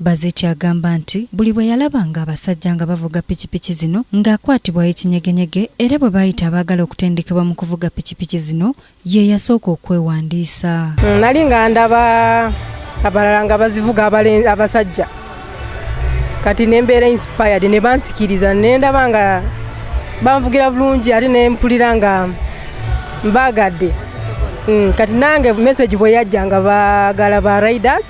Bazeki agamba nti buli bwe yalabanga abasajja nga bavuga pikipiki zino ng'akwatibwa ekinyegenyege era bwe baayita abaagala okutendekebwa mu kuvuga pikipiki zino ye yasooka okwewandiisa. Mm, nali nga ndaba abalala nga bazivuga abasajja kati ne mbeera inspired ne bansikiriza ne ndaba nga banvugira bulungi ate ne mpulira nga mbaagadde mm, kati nange message bwe yajja nga baagala ba riders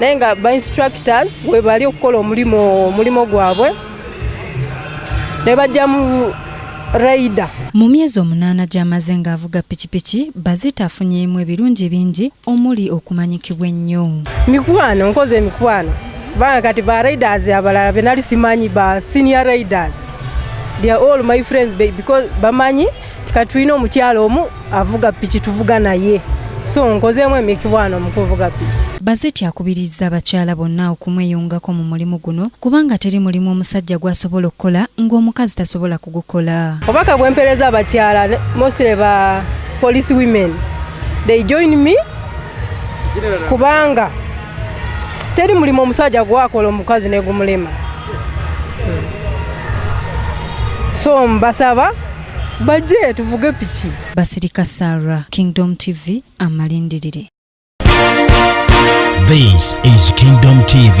naye nga ba instructors webali okukola omulimu omulimu gwabwe ne bajjamu raida mu myezi omunaana gy'amaze ng'avuga pikipiki bazita afunyeemu ebirungi bingi omuli okumanyikibwa ennyo mikwano nkoze emikwano banga kati ba raiders abalala benali simanyi ba senior raiders they are all my friends because bamanyi kati tulina omukyalo omu avuga piki tuvuga naye so nkozeemu emikibwano mu kuvuga piki bazeti akubirizza abakyala bonna okumweyungako mu mulimu guno kubanga teri mulimu omusajja gw'asobola okukola ng'omukazi tasobola kugukola obaka bwempereza abakyala mosire ba police women they join me kubanga teri mulimu omusajja gwakola omukazi negumulema so mbasaba bajje tuvuge piki basirika sara kingdom tv amalindirire This is Kingdom TV.